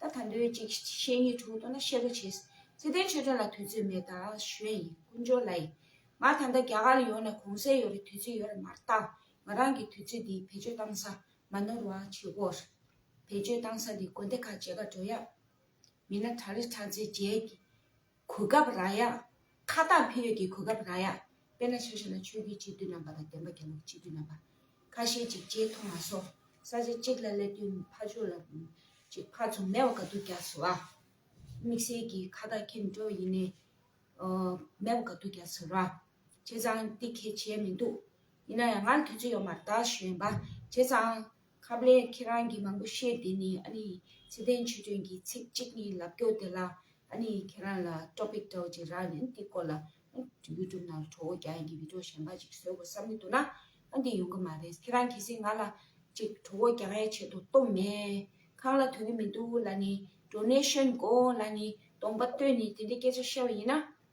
ད་ད་འདོད་ཅིག་བཤེས་གཉེན་དྲུག་ལྟོ་ན་བཤད་པོ་བྱེད། བརྩེ་ལྡན་ཆོས་སྒྲོན་ལ་དུས་ཚོད་མེད་ད་གཞོན་ཡིན་ཀུན་འབྱོར་ལ་ཡིན། ང་ད་ལྟ་རྒྱ་གར་ལ་ཡོང་ནས་གོང་གསལ་ཡོད་རེད་དུས་ཚོད་ཡོད་རེད་མ་བརྟག་ང་རང་གིས་དུས་ཚོད་འདི་བེད་སྤྱོད་བཏང་ས་མ་ནོར་བ་བྱེད་དགོས་རེད། བེད་སྤྱོད་བཏང་ས་འདི་དགོན་སྡེ་ཁག་བྱེད་ཁ་འགྲོ་ཡག་མིན་ན་གྲ་རེ་གྲ་ཚེ་རྒྱལ་གྱིས། གོ་སྐབས་རག་ཡ། ཁ་བཏགས་འཕེན་ཡོད་ཀྱི་གོ་སྐབས་རག་ཡ། དཔེར་ན་ཆ་ཤས་ན་ཆོས་བརྒྱུད་སྤྱི་འཐུས་རྣམ་པ་དང་བདེན་པ་རྒྱ་ནག་སྤྱི་འཐུས་རྣམ་པ། ཁ་ཤས་ཅིག་ལྕེ་མཐོང་མ་སོང། ས་ཆ་གཅིག་ལ་སླེབས་དུས་ཕ་ཆོས་ལ། ཅིག་ཕར་ཚུར་མེད་བ་ག་དུས་རྒྱགས་ཟེར་བ། དམིགས་བསལ་གྱི་ཁ་བཏགས་འཁེན་འགྲོ་བ་ཡིན་ནའི། མེད་བ་ག་དུས་རྒྱགས་ཟེར་བ། བྱས་ཙང་འདི་གལ་ཆེ་མི་འདུག། ཡིན་ན་ཡང་ང་ལ་དུས་ཚོད་ཡོད་མར་ད་གཞོན་པ། བྱས་ཙང། ཁ་བརྡས་ཁྱེད་རང་གིས་མང་པོ་བཤད་དེ་ནས་ཨ་ནི་ཚེ་བརྟན་ཆོས་སྒྲོན་གྱིས་ཚིག་གཅིག་གཉིས་ལབ་སྐྱོ་དེ་ལ་ཨ་ནི་ཁྱེད་རང་ལ Topic དྲོ་རྗེས་རང་ནས་འདི་སྐོར་ལ་ཨ YouTube ནང་ལ་དྲོ་བོ་རྒྱག་ཡིན་གྱི Video གཞན་པ་ཅིག་བཟོས་དགོས་བསམ་གྱི་འདུག་ན་ཨ་འདི་ཡོང་གི་མ་རེད་ཁྱེད་རང་གལ་སྲིད་ང་ལ་ཅིག་དྲོ་བོ་རྒྱག་ཡའི་ཆེད་དུ་གཏོང་མེད་ཁང་ལ་དོན་གྱི་མི་འདུག་ལ་ནི Donation དགོས་ལ་ནི་གདོང་པ་སྟོན་ནས་དེ་འདྲའི་སྐད་ཆ་བཤད་པ་ཡིན་ན།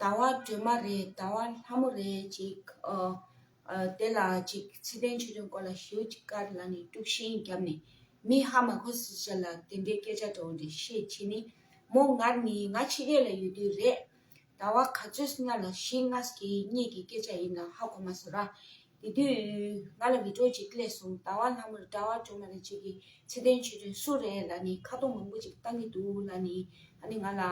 ཟླ་བ་སྒྲོལ་མ་རེད་ཟླ་བ་ལྷ་མོ་རེད་ཅིག་དེ་ལ་ཅིག་ཚེ་བརྟན་ཆོས་སྒྲོན་སྐོར་ལ་ཞུ་ཅིག་ཀར་ལ་ནི་དཀྲུགས་ཤིང་བརྒྱབ་ནས་མི་ཧ་མ་གོ་སྲིད་ཟེར་ལ་དེ་འདྲའི་སྐད་ཆ་འདྲ་བོ་འདྲ་བཤད་བྱེད་ནི་མོ་ངར་ནི་ང་ཕྱི་རྒྱལ་ལ་ཡོད་དུས་རེད་ཟླ་བ་ག་ཚོད་སྔ་ལ་ཞིག་སྔ་ཟླ་གཉིས་ཀྱི་སྐད་ཆ་ཡིན་ལ་ཧ་གོ་མ་སོང་ར་དེ་དུས་ང་ལ་མི་གྲོགས་ཅིག་བསླེས་སོང་ཟླ་བ་ལྷག་མར་གྲྭ་བ་གྲོ་མ་རེ་གཅིག་གིས་ཚེ་བརྟན་ཆོས་སྒྲོན་སུ་རེད་ལ་ནི་ཁ་གཏོང་མང་པོ་ཅིག་བཏང་གི་འདུག་ལ་ནི་ཨ་ནི་ང་ལ་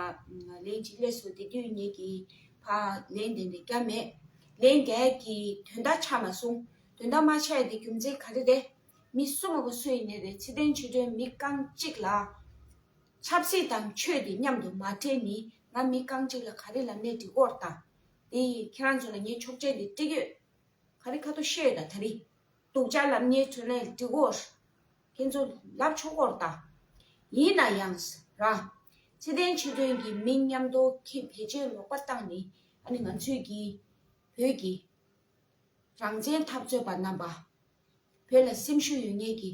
ལན་ཅིག་བསླེས་སོ་དེ་དུས་ངེད་ཀྱིས་ཕ་ལན་དེ་འདྲ་བརྒྱབ་མེད། ལན་འགས་ཀྱིས་དོན་དག་ཆགས་མ་སོང། དོན་དག་མ་ཆགས་དེ་རྒྱུ་མཚན་ག་རེ་རེད། མི་གསོ་མ་གསོ་ཡི་ནི་རེད་ཚེ་བརྟན་ཆོས་སྒྲོན་མི་རྐང་གཅིག་ལ། ཆབ་སྲིད་དང་ཆོས་དེ་མཉམ་དུ་མ་འདྲེས་ནི་ང་མི་རྐང་གཅིག་ལ་ག་རེ་ལ་གནས་འདི་སྐོར་དང། དེ་ཡིས་ཁྱེད་རང་ཚོ་ལ་ངས་ཆོག་མཆན་འདི་བཀྲིས་ཡོད། ཁ་རི་ཁ་ཐོ་ཤོད་དང་ད་རི་སྡུག་ཅག་ལབ་ཉེས་ཚོད་ནས་འདྲི་དགོས། ཁྱེད་ཚོ་ལབ་ཆོག་སྐོར་ལྟ། ཡིན་ན་ཡང། ར། ཚེ་བརྟན་ཆོས་སྒྲོན་གྱི་མི་མཉམ་རྡོ་ཁེ་བེད་སྤྱོད་ལོག་པར་བཏང་ནི་ཨ་ནི་ང་ཚོས་ཀྱི། བོད་ཀྱི། རང་བཙན་འཐབ་རྩོད་པ་རྣམ་པ། བོད་ལ་སེམས་ཤུགས་ཡོད་ངེས་ཀྱི།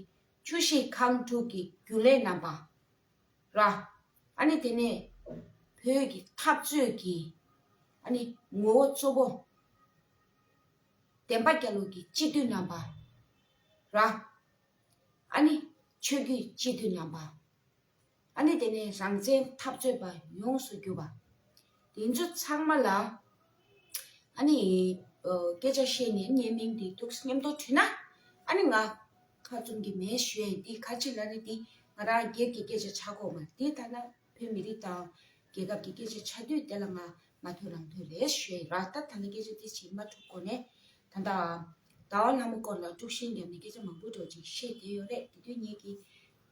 ཆུ་བཞི་ཁང་དྲུག་གི་རྒྱུན་ལས་རྣམ་པ། ར། ཨ་ནི་དེ་ནས་བོད་ཀྱི་འཐབ་རྩོད་ཀྱི་ཨ་ནི་ངོ་བོ་གཙོ་བོ། བསྟན་པ་རྒྱ་ལུགས་ཀྱི་སྤྱི་འཐུས་རྣམ་པ། ར། ཨ་ནི་ཆོས་བརྒྱུད་སྤྱི་འཐུས་རྣམ་པ། ཨ་ནི་དེ་ནས་རང་བཙན་འཐབ་རྩོད་པ་ཡོངས་སུ་གྱུར་པ། དེ་ཚོ་ཚང་མ་ལ་ཨ་ནི་སྐད་ཆ་བཤད་ནས་བརྙན་མིང་དེ་ཐུགས་སྙམ་དུ་བྲིས་ན་ཨ་ནི་ང་ཁ་བཙུམ་གི་མེད་བཞིན་དེ་ཁ་ཆེ་ལ་ནི་དེ་ང་རང་སྒེར་གྱི་སྐད་ཆ་ཆགས་ཁོག་མ་རེད་དེ་ཐ་ན་བོད་མི་རིགས་དང་རྒྱལ་ཁབ་ཀྱི་སྐད་ཆ་ཆགས་དུས་དེ་ལ་ང་ང་ཐོས་རང་ཐོས་རེད་བཞིན་ར་ལྟ་ད་ནི་སྐད་ཆ་དེ་བྱེད་མ་ཐུབ་གོ་ནས་ད་ལྟ་ཟླ་བ་ལྷ་མོ་སྐོར་ལ་དཀྲུག་ཤིང་བརྒྱབ་ནས་སྐད་ཆ་མང་པོ་གྲོགས་ཅིག་བཤད་བསྡད་ཡོད་རེད་དེ་དུས་ངེད་ཀྱིས་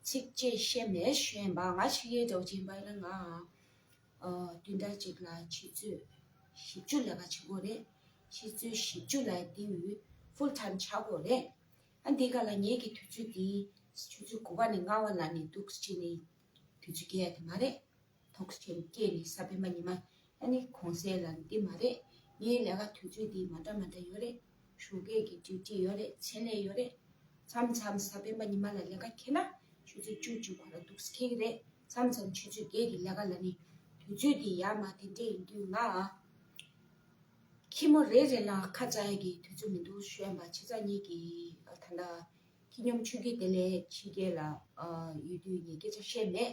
ཚིག་བཅད་བཤད་མེད་བཞིན་པ་ང་ཕྱི་རྒྱལ་གྲོགས་ཅིག་འབའ་ཡིན་ན་ང་བདུན་ཕྲག་གཅིག་ལ་ཆུ་ཚོད་བཞི་བཅུ་ལས་ཀ་བྱེད་དགོས་རེད། ཆུ་ཚོད་བཞི་བཅུ་ལ་དེ་འུ་ཕུལ་ཐཱིམ་བྱ་དགོས་རེད། ཨ་འདི་ག་ལ་ངེད་ཀྱི་དུས་ཚོད་དེ་ཆུ་ཚོད་དགུ་བ་ནས་ལྔ་བ་ལ་ནས་འདུག་ཅེས་ནས་དུས་ཚོད་བསྐྱལ་ཡ་དེ་མ་རེད། ཐོག་ཆེན་པོ་སྐྱེས་ནས་ས་བོན་པ་ཉི་མ་ཨ་ནི་གོང་གསལ་ལ་འདི་མ་རེད་ངའི་ལས་ཀ་དུས་ཚོད་དེ་མ་འདྲ་མ་འདྲ་ཡོད་རེད། ཞུ་སྐད་ཀྱི་འདུས་འདྲིས་ཡོད་རེད་ཆེད་ལས་ཡོད་རེད། མཚམས་མཚམས་ས་སྤེན་པ་ཉི་མ་ལ་ལས་ཀ་ཁེལ་ན་ཆུ་ཚོད་བཅུ་བཅུ་གོ་ལ་འདུག་ས་ཁེལ་གྱི་རེད་མཚམས་མཚམས་ཆུ་ཚོད་བརྒྱད་ཀྱི་ལས་ཀ་ལ་ནི་དུས་ཚོད་དེ་ཡར་མར་དེ་འདྲས་ཡིན་དུས་ང་ཁྱི་མོ་རེ་རེ་ལ་ཁ་བཙལ་གྱི་དུས་ཚོད་མི་འདུག་གཞོན་པ་ཁྱི་ཚ་གཉིས་ཀྱིས་ད་ལྟ་ཁྱི་སྙོམས་ཆུ་སྐྱེས་དེ་ལས་ཕྱི་རྒྱལ་ལ་ཡོད་དུས་ངས་སྐད་ཆ་བཤད་མེད།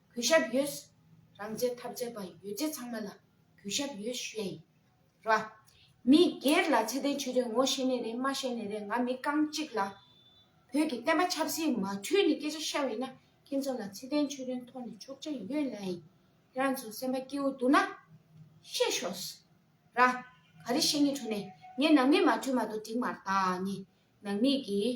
གུས་ཞབས་ཡོད། རང་བྱས་ཐབས་བྱས་པ་ཡོད་བྱད་ཚང་མ་ལ་གུས་ཞབས་ཡོད་ཞུས་ཡིན། ར། མི་སྒེར་ལ་ཚད་ལྡན་ཆོས་དོན་ངོ་ཤེས་ནས་རེད་མ་ཤེས་ནས་རེད་ང་མི་རྐང་གཅིག་ལ། བོད་ཀྱི་བསྟན་པ་ཆབ་སྲིད་མ་འཁྲུལ་ནས་སྐད་ཆ་བཤད་པ་ཡིན་ན་ཁྱེད་ཚོ་ལ་ཚད་ལྡན་ཆོས་དོན་ཐོག་ནས་ཆོག་ཆ་ཡོད་ལ་ཡིན། ཁྱེད་རང་ཚོ་སེམས་པ་སྐྱིད་བོ་འདུག་ན། བཤད་ཤོག། ར། ག་རེ་བཤད་ངེས་འཁྲུལ་ནས་ངས་ནང་མི་མ་འཁྲུལ་མ་གཏོགས་འགྲིག་མ་གཏགས་ནི་ནང་མི་གིས།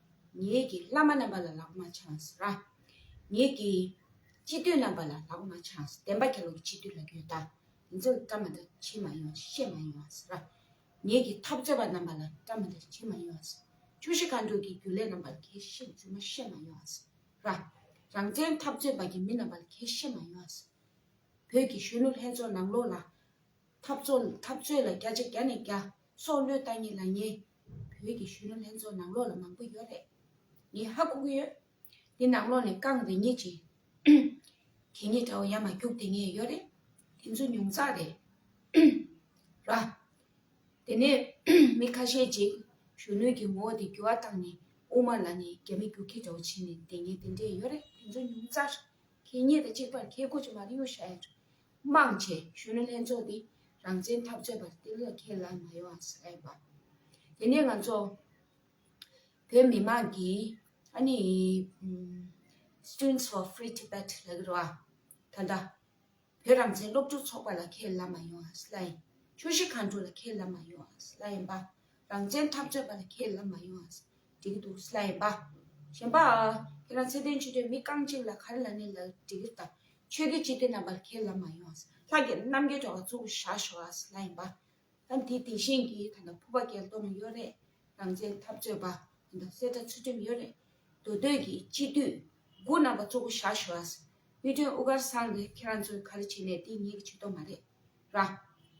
ངེད་ཀྱི་བླ་མ་རྣམ་པ་ལ་ལག་མ་ཆངས་ར། ངེད་ཀྱི་སྤྱི་འཐུས་རྣམ་པ་ལ་ལག་མ་ཆངས་བདེན་པ་གྱ་ལོ་གྱི་སྤྱི་འཐུས་ལ་ཡོད་ད། དེ་ཚོ་གི་བཀའ་མ་དང་ཆེ་མ་ཡོང་ཤེས་མ་ཡོང་ཨ་ཟེར་ར། ངེད་ཀྱི་འཐབ་རྩོད་པ་རྣམ་པ་ལ་བཀའ་མ་དང་ཆེ་མ་ཡོང་ཨ་ཟེར། ཆུ་བཞི་མཁའ་འགྲོ་གྱི་རྒྱུ་ལས་རྣམ་པ་ལ་ཁས་ཤེས་རྒྱུ་མ་ཤེས་མ་ཡོང་ཨ་ཟེར་ར། རང་བཙན་འཐབ་རྩོད་པ་གྱི་མི་རྣམ་པ་ལ་ཁས་ཤེས་མ་ཡོང་ཨ་ཟེར། བོད་ཀྱི་གཞོན་ནུ་ལྷན་ཚོགས་ནང་ལོགས་ལ། འཐབ་རྩོད་ལ་རྒྱ་ཆ་རྒྱ་ནས་རྒྱ། སྲོག་བློས་བཏང་ཉིད་ལ་ཉེས། བོད་ཀྱི་གཞོན་ནུ་ལྷན་ཚོགས་ནང་ལོགས་ལ་མང་པོ་ཡོད་རེད། ངས་ཧ་གོ་གི་ཡོད། འདི་ནང་ལོགས་ནས་རྐང་རེ་གཉིས་ཅན། གད་སྙིགས་འདྲ་བོ་ཡར་མར་རྒྱུགས་དེ་ངས་ཡོད་རེད། དེ་ཚོ་ཉུང་ཙག་རེད། ར། དེ་ནས་མི་ཁ་ཤས་ཅིག་གཞོན་ནུ་གྱི་ངོ་བོ་དེ་འགྱུར་བ་བཏང་ནས་དབུ་མ་ལ་ནས་རྒྱ་མི་རྒྱུགས་ཁྱི་འདྲ་བོ་བྱས་ནས་བསྡད་ངས་དེ་འདྲས་ཡོད་རེད་དེ་ཚོ་ཉུང་ཙག་རེད། གད་སྙིགས་དང་གཅིག་པར་ཁྱེད་གོ་ཆ་མ་རེ་ཡོད་ཤག་ཡ། དམངས་ཆེད་གཞོན་ནུ་ལྷན་ཚོགས་འདི་རང་བཙན་འཐབ་རྩོད་པར་གཏན་ལ་འཁེལ་ལ་མ་ཡོང་བ་ཟེར་བ། དེ་ནི་ང་ཚོ་བོད་མི་དམངས་ཀྱི་ཨ་ནི Students for Free Tibet ལ་གི་རུ་བ་ད་ལྟ་བོད་རང་བཙན་སློབ་ཕྲུག་ཚོགས་པ་ལ་འཁེལ་ལ་མ་ཡོང་བ་ཟེར་ལ་ཡིན། ཆོས་གཞི་ཁང་དྲུག་ལ་འཁེལ་ལ་མ་ཡོང་བ་ཟེར་ལ་ཡིན་པ། རང་བཙན་ཐག་གཅོད་པ་ལ་ཁས་ལེན་མ་ཡོང་ཨ། འགྲིག་གི་འདུག་སླ་ཡིན་པ། གཞན་པ། ཁྱེད་རང་ཚད་ལྡན་ཆོས་དད་མི་རྐང་གཅིག་ལ་གར་ལ་ནི་ལ་འགྲིག་གི་དང། ཆོས་དད་སྤྱི་དད་རྣམ་པར་ཁས་ལེན་མ་ཡོང་ཨ། ལྷ་རྒྱལ་རྣམ་རྒྱལ་གྲོགས་ལ་གཙུག་བཞག་ཤོག་ཨ་སླ་ཡིན་པ། ཨ་འདི་དེ་བཞིན་གྱི་ད་ལྟ་ཕུ་པ་རྒྱལ་གཏོར་ནི་ཡོད་རེད། རང་བཙན་ཐབས་གཅོད་པ། ད་ལྟ་སེར་དྲ་ཚུལ་ཁྲིམས་ཡོད་རེད། མདོ་སྟོད་ཀྱི་སྤྱི་འཐུས། དགུ་རྣམ་པ་གཙུག་བཞག་ཤོག་ཨ། དབུས་སྟོན་དབུ་དཀར་སངས་རྒྱས་ཁྱེད་རང་ཚོའི་ག་རེ་བྱེད་ནས་འདི་ངེད་ཀྱི་བྱེད་ཐོབ་མ་རེད། ར།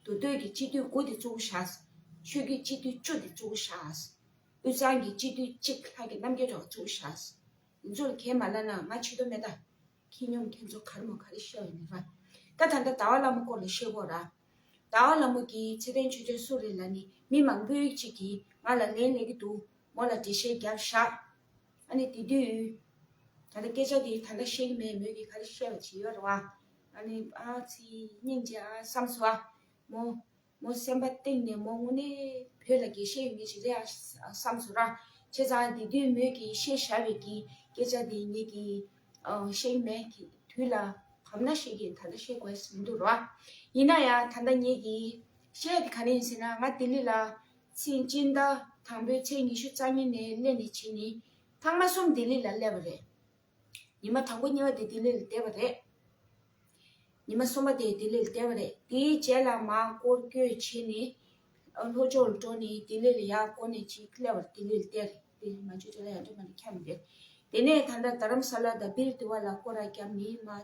དུར་ཁྲོད་ཀྱི་སྤྱི་བརྟོལ་དགུ་སྟེ་གཙོ་བོ་ཞག། ཆོས་རྒྱུད་སྤྱི་བརྟོལ་བཅུ་སྟེ་གཙོ་བོ་ཞག། དབུས་གཙང་གི་སྤྱི་བརྟོལ་གཅིག་ལྷག་གི་རྣམ་རྒྱལ་གྲགས་གཙོ་བོ་ཞག། ཡིན་ཚོལ་མཁན་མ་བླ་ན་མ་ཕྱི་དོ་མེད་ད། ཁྱི་སྙོམས་མཁན་ཚོ་གར་མོ་ག་རེ་བཤད་བ་ནི་ར། ད་ད་ལྟ་ཟླ་བ་ལྷ་མོ་སྐོར་ལ་བཤད་གོ་ར། ཟླ་བ་ལྷ་མོ་ཀྱིས་ཚེ་བརྟན་ཆོས་འབྱོན་སུ་རེད་ལ་ནི་མི་མང་པོའི་གཅིག་གིས་ང་ལ་ལན་སླེབས་ཀྱི་འདུག་མོ་ལ་འགྲེལ་བཤད་རྒྱབ་ཞག། ཨ་ནི་དེ་དུས། ད་ལྟ་སྐད་ཆ་འདི་ད་ལྟ་བཤད་ཀྱི་མེད་མོད་ཀྱི་ག་རེ་བཤད་པ་བྱེད་ཡོད་རེད་བ། ཨ་ནི་ཨ་ཚི་སྙིང་རྗེ་ཨ་བསམ་སོ། མོ། མོ་སེམས་པ་གཏིང་ནས་མོ་དངོས་གནས་བོད་ལ་དགེ་བཤེས་ཡོད་མེད་ཞིག་རེད་ཨ་བསམ་སོ་ར། བྱས་ཙང་དེ་དུས་མོས་ཀྱི་བཤད་ཞར་བས་ཀྱི་སྐད་ཆ་འདི་ངེད་ཀྱི། བཤད་ཀྱི་མེད་ཀྱི་དུས་ལ་བབ་ན་བཤད་ཀྱི་ད་ལྟ་བཤད་དགོས་མི་འདུག་ར་བ། ཡིན་ན་ཡང་ད་ལྟ་ངེད་ཀྱི་བཤད་ཡ་དེ་ག་རེ་ཡིན་ཟེར་ན་ང་ལྡི་ལི་ལ་ཚེས་གཅིག་ཟླ་དང་པོའི་ཚེས་ཉི་ཤུ་རྩ་གཉིས་ནས་གླས་ནས་ཕྱིན་ནི་ལྷག་མ་གསུམ་ལྡི་ལི་ལ་གླས་པ་རེད། ཉི་མ་དང་པོ་གཉིས་པ་དེ་ལྡི་ལི་ལ་བསྡད་པ་རེད། ཉི་མ་གསུམ་པ་དེ་ལྡི་ལི་ལ་བསྡད་པ་རེད། དེའི་རྗེས་ལ་མར་སྐོར་བསྐྱོད་བྱས་ནས་ལྷོ་ཕྱོགས་ལ་འགྲོ་ནས་ལྡི་ལི་ལ་ཡར་སྐོར་ནས་ཕྱིན་གླས་པ་རེད་ལྡི་ལི་ལ་བསྡད་རེད་དེ་ནས་མར་ཆུ་ཚོད་ལ་ཡར་འགྲོ་མ་ནས་འཁྱམས་རེད། དེ་ནས་ད་ལྟ་དྷ་རམ་ས་ལ་དང་བིར་དྷི་བ་ལ་སྐོར་ར་བརྒྱབ་ནས་མར་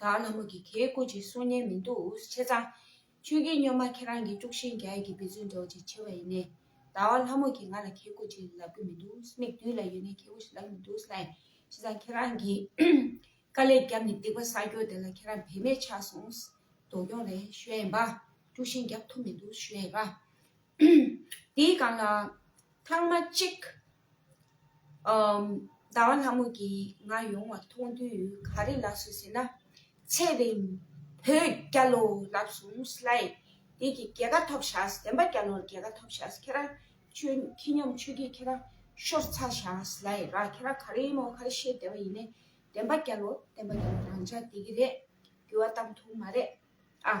དག་ལྷ་མོ་གི་གེའི་སྐུ་གཅིག་གསུང་སྙན་མི་འདུག་འུ་ཆེ་ཚང། ཆོས་རྒྱལ་སྙོ་མ་ཁྱེད་རང་གི་དཀྲུགས་ཤིང་རྒྱ་ཡིག་གི་འབེ་རྫུན་འདྲ་བོ་ཅིག་བྱེད་པ་ཡིན་ནས། ཟླ་བ་ལྷ་མོ་གིས་ང་ལ་གེའི་སྐུ་གཅིག་ལབ་གི་མི་འདུག་མིག་མདུན་ལ་ཡོད་ནའི་གེའི་སྐུ་ཞིག་ལབ་མི་འདུག་ལྷའི་ཆེ་ཚང་ཁྱེད་རང་གིས་དཀའ་ལས་བརྒྱབ་ནས་སྡིག་པ་བསགས་རྒྱུ་དེ་ལ་ཁྱེད་རང་བེད་མེད་ཆགས་སོང། མདོ་སྐྱོང་ལས་ཞོལ་ཡིན་པ། དཀྲུགས་ཤིང་རྒྱབ་ཐུབ་མི་འདུག་ཞོལ་ཡིན་པ། དེའི་སྒང་ལ། ཐང་མ་གཅིག། ཟླ་བ་ལྷ་མོ་གིས་ང་ཡོང་བ་མཐོང་དུས་ག་རེ་ལབ་སོང་ཟེར་ན། ཚེ་རིང། བོད་རྒྱ་ལོ་ལབ་སོང་སླད། དེ་གི་རྒྱལ་ཁ་ཐོབ་བཞག་བསྟན་པ་རྒྱ་ལོར་རྒྱལ་ཁ་ཐོབ་བཞག་ཁྱེད་རང་ཆོས་མཁས་སྙོམས་ཆོས་སྐྱིད་ཁྱེད་རང་ཤོར་ཚར་བཞག་སླད་ར་ཁྱེད་རང་ག་རེ་ཡིན་ནོ་ག་རེ་བཤད་བསྡད་པ་ཡིན་ནས་བསྟན་པ་རྒྱ་ལོ་བསྟན་པ་རྒྱ་ལོ་རང་ཅག་དེ་གི་རེད་འགྱུར་བ་བཏང་ཐུབ་མ་རེད་ཨ།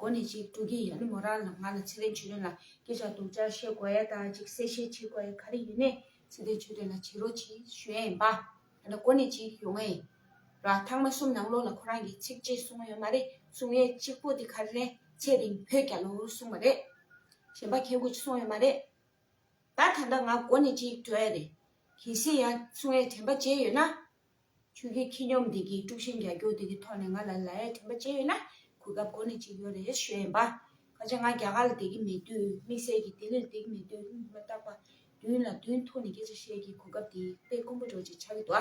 གོ་ནས་ཅིག་དྲུག་གིས་ཡ་ནི་མོ་རང་ལ་ང་ལ་ཚེ་རིང་ཆོས་སྒྲོན་ལ་སྐད་ཆ་སྡུག་ཅག་བཤད་དགོས་ཡ་ད་ཅིག་གསལ་བཤད་བྱེད་དགོས་ཡ་ག་རེ་ཡོད་ནས་ཚེ་རིང་ཆོས་སྒྲོན་ལ་བྱེད་རོགས་གྱིས་གཞོན་པ་ད་ལྟ་གོ་ནས་ཅིག་ཡོང་ཨེ་ར་ཐང་མ་གསུམ་ནང་ལོགས་ལ་ཁོ་རང་གིས་ཚིག་གཅིག་གསུང་ཨེ་ཡོད་མ་རེད་གསུང་ཡས་གཅིག་པོ་དེ་ག་རེ་རེད་ཚེ་རིང་བོད་རྒྱ་ལོ་གསུང་བ་རེད་གཞན་པ་ཁྱེད་གོ་ཅིག་གསུང་ཡས་མ་རེད་ད་ད་ལྟ་ང་གོ་ནས་ཅིག་བྲོས་ཡ་རེད་གལ་སྲིད་ཡ་གསུང་ཡས་དྲན་པ་བྱས་ཡོད་ན་ཆོས་ཀྱི་ཁྱི་སྙོམས་དེ་གིས་དཀྲུག་ཤིང་རྒྱག་རྒྱུ་དེ་གི་ཐོག་ནས་ང་ལ་ལ་ཡས་དྲན་པ་སྐྱེས་ཡོད་ན་གོ་སྐབས་གོ་ནས་ཅིག་ཡོད་རེད་ཞུ་ཡས་འབའ། ཁ་ཆེ་ང་རྒྱ་གར་ལ་དེ་གི་མེད་དུས་དམིགས་བསལ་གྱི་དེ་ལིར་དེ་གི་མེད་དུས་མི་མ་བརྟག་པ། དུན་ལ་དུན་ཐུག་ནས་སྐད་ཆ་བཤད་ཀྱི་གོ་སྐབས་དེ་དཔེ་དཀོན་པོ་འགྲོ་ཅིག་ཆ་གི་དོ།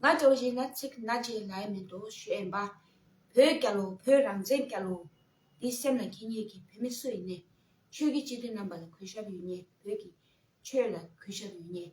ང་ལྕོག་བཞིན་ན་ཚིག་སྣ་ཅིག་ལ་ཡས་མེད་དོ་ཞུ་ཡས་འབའ། བོད་སྐྱ་ལོ་བོད་རང་བཙན་སྐྱ་ལོ། དེ་སེམས་ལ་ཁྱི་ཉིད་ཀྱི་བོད་མི་སུ་ཡིན་ནས། ཆོས་ཀྱི་སྤྱི་འཐུས་རྣམས་པ་ལ་གུས་ཞབས་ཡོད་ཉེས་བོད་ཀྱི། ཆོས་ལ་གུས་ཞབས་ཡོད་ཉེས།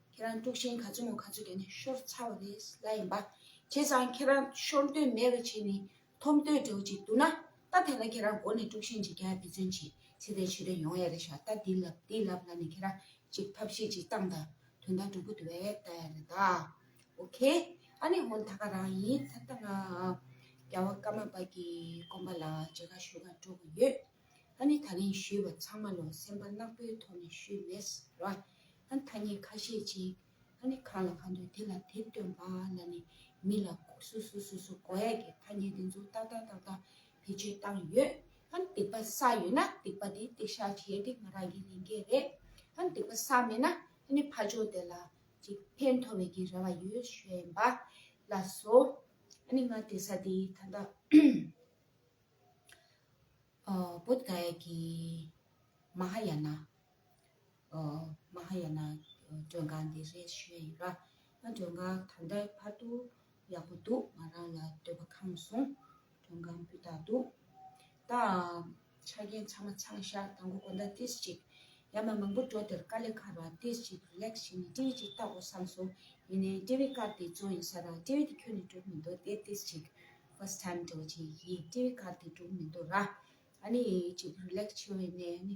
ཁྱེད་རང་དཀྲུགས་ཤིང་ག་ཚོད་མོ་ག་ཚོད་བརྒྱབ་ནས་ཤོར་ཚར་བ་རེད་ལབ་ཡིན་པ། བྱས་ཙང་ཁྱེད་རང་ཤོར་འདོད་མེད་པ་བྱས་ནས་འཐོམ་འདོད་འདྲ་བོ་ཅིག་འདུག་ན་ད་ཐེངས་ལ་ཁྱེད་རང་མགོ་ནས་དཀྲུགས་ཤིང་ཅིག་རྒྱག་འབད་བརྩོན་བྱེད་ཚེ་དེ་ཆོད་དོན་ཡོང་ཡ་རེད་ཤག་ད་འདི་ལབ་འདི་ལབ་ལབ་ནས་ཁྱེད་རང་ཅིག་ཐབས་ཤེས་ཅིག་བཏང་ད་དོན་དག་འགྲུབ་པོ་དེ་བས་ལྟ་ཡ་རེད་ད། ཨོ་ཁེ། ཨ་ནི་ཧོན་ད་ག་རང་ཡིན་ད་ལྟ་ང་རྒྱ་བ་སྐར་མ་པ་གི་སྐོམ་པ་ལ་མཇལ་ཁ་ཞུ་ག་འགྲོ་གི་ཡོད། ཨ་ནི་ད་རིང་ཞུས་པ་ཚང་མ་ལོ་སེམས་པ་གནག་པོའི་ཐོག་ནས་ཞུས་མེད་ར། ཨ་ཐ་ཉི་ཁ་ཤས་ཅིག་ཨ་ནི་གང་ལ་གང་འདོད་དེ་ལ་དེ་སྟོན་པ་ལ་ནི་མི་ལ་སུ་སུ་སུ་སུ་གོ་ཡ་གི་ཐ་ཉི་དེ་ཚོ་ཏག་ཏག་ཏག་ཏག་བེད་སྤྱོད་བཏང་ཡོད་ཨ་འདེགས་པ་ས་ཡོད་ན་འདེགས་པ་དེ་འདེགས་ཤག་བྱས་དེ་ང་རང་གི་ལས་འགན་རེད་ཨ་འདེགས་པ་ས་མེད་ན་ཨ་ནི་ཕ་ཆོག་དེ་ལ་ཅིག་ཕན་ཐོ་བའི་གི་རེ་བ་ཡོད་ཤོད་པ་ལ་སོ་ཨ་ནི་ང་དེ་ས་དེ་ད་ལྟ་བོད་ག་ཡ་གི་མ་ཧ་ཡ་ན། མ་ཧཱ་ཡ་ན་མགྲོན་ཁང་འདི་རེད་ཞུས་ཡོད་ལ། མགྲོན་ཁང་ད་ལྟ་བར་དུ་ཡག་པོ་འདུག་ང་རང་ལ་སྡོད་པ་ཁང་བཟུང་མགྲོན་ཁང་སྤུས་དག་འདུག་ད། ཆ་རྐྱེན་ཚང་མ་ཚང་ཤག་དང་པོ་གོ་ཟླ་ཏིས་ཅིག་ཡ་མ་མང་པོ་འགྲོ་དེར་དཀའ་ལས་ཁག་རང་ཏིས་ཅིག་ལེགས་བཞི་ནས་སྤྲེའུ་ཅིག་བཏགས་འོ་བསམ་སོང་ཡིན་ནའི་སྤྲེའུའི་སྐར་དེ་བཙོང་ཡིན་ས་རང་སྤྲེའུ་དེ་ཁྱོན་ནས་གྲུབ་མི་འདུག་དེ་ཏིས་ཅིག First time འགྲོ་བ་ཅིག་ཡིན་སྤྲེའུའི་སྐར་དེ་གྲུབ་མི་འདུག་ར་ཨ་ནི་ཅིག་རུ་ལེགས་ཆེ་བས་ནས་ཨ་ནི།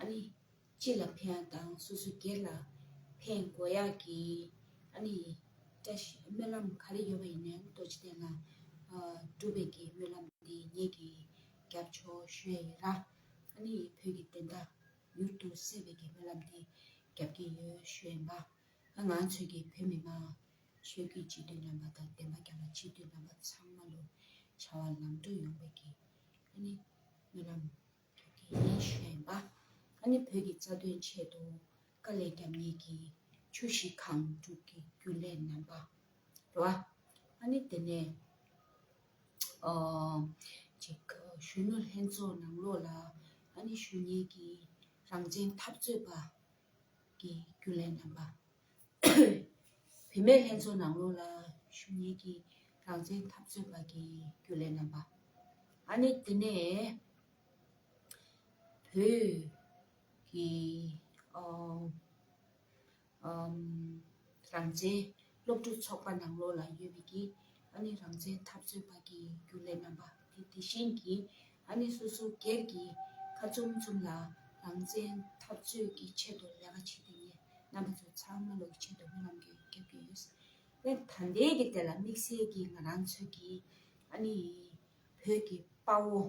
ཨ་ནི། སྤྱི་ལ་ཕན་ཡག་དང་སོ་སོའི་སྒེར་ལ་ཕན་དགོས་ཡག་གི། ཨ་ནི། བཀྲ་ཤིས་སྨོན་ལམ་ག་རེ་ཡོད་པ་ཡིན་ནའང་རྡོ་རྗེ་གདན་ལ་སྒྲུབ་པའི་གི་སྨོན་ལམ་འདི་ངེད་ཀྱིས་རྒྱབ་ཆོག་ཞུ་ཡ་ཡོད་ལ། ཨ་ནི། བོད་ཀྱི་བདེན་མཐའ་མྱུར་དུ་གསལ་བའི་གི་སྨོན་ལམ་འདི་རྒྱབ་ཀྱི་ཡོད་ཞུ་ཡ་ཡིན་པ། ང་ཚོས་གི་བོད་མི་མང་ཆོས་ཀྱི་སྤྱི་འཐུས་རྣམ་པ་དང་བདེན་པ་རྒྱབ་ལ་སྤྱི་འཐུས་རྣམ་པ་ཚང་མ་ལོ་བྱ་བ་ལམ་འགྲོ་ཡོང་བའི་གི་ཨ་ནི། སྨོན་ལམ། བོད་ཀྱི་ཡེ་ཤེས་པ་ཨ་ནི་བོད་ཀྱི་རྩ་དོན་ཆེད་དུ་དཀའ་ལས་རྒྱབ་གཉིས་ཀྱིས་ཆུ་བཞི་གང་བསྒྲུབ་ཀྱི་རྒྱུན་ལས་རྣམ་པ་རེད། ཨ་ནི་དེ་ནས་གཞོན་ནུ་ལྷན་ཚོགས་ནང་ལོགས་ལ་ཨ་ནི་གཞོན་ཉེས་ཀྱི་རང་བཙན་འཐབ་རྩོད་པ་ཀྱི་རྒྱུན་ལས་རྣམ་པ། བུད་མེད་ལྷན་ཚོགས་ནང་ལོགས་ལ་ཞུགས་ཉེས་ཀྱི་རང་བཙན་འཐབ་རྩོད་པ་གྱི་རྒྱུན་ལས་རྣམ་པ། ཨ་ནི་དེ་ནས་བོད་ཀྱི་རང་བཙན་སློབ་ཕྲུག་ཚོགས་པ་ནང་ལོགས་ལ་ཡོད་མེད་ཀྱི་ཨ་ནི་རང་བཙན་འཐབ་རྩོད་པ་གི་རྒྱུ་ལས་རྣམ་པ་དེ་དེ་བཞིན་གྱི་ཨ་ནི་སོ་སོ་སྒེར་གྱི་ཁ་ཚུམ་ཚུམ་ལ་རང་བཙན་འཐབ་རྩོད་ཀྱི་ཆེད་དུ་ལས་ཀ་བྱེད་དེ་ཉིད་རྣམ་པ་ཚོ་ཚང་མ་ལོག་ཆེད་དུ་མི་རྣམས་ཀྱི་རྒྱབ་ཀྱི་ཡོད་སེམས་ད་ལྟའི་གི་དེ་ལ་དམིགས་བསལ་གྱི་ང་རང་ཚོད་ཀྱི་ཨ་ནི་བོད་ཀྱི་དཔའ་བོ།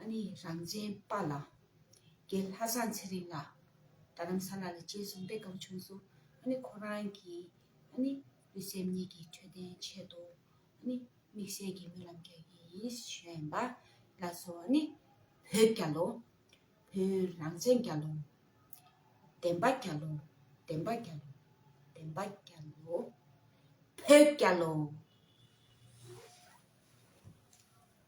ཨ་ནི་རང་བཙན་དཔའ་ལ། རྒྱལ་ལྷ་བཟང་ཚེ་རིང་ལ། རྡ་རམ་ས་ལ་ལ་བཅས་བཟུང་སྟེ་སྒང་ཆུང་སུ་ཨ་ནི་ཁོ་རང་གི་ཨ་ནི་ལུས་སེམས་གཉིས་ཀྱི་འཕྲོད་བསྟེན་ཆེད་དུ་ཨ་ནི་དམིགས་བསལ་གྱི་སྨོན་ལམ་རྒྱག་གི་ཡིན་བཞོན་པ་ལ་སོ་ཨ་ནི་བོད་རྒྱ་ལོ། བོད་རང་བཙན་རྒྱ་ལོ། བདེན་པ་རྒྱ་ལོ། བདེན་པ་རྒྱ་ལོ། བདེན་པ་རྒྱ་ལོ། བོད་རྒྱ་ལོ།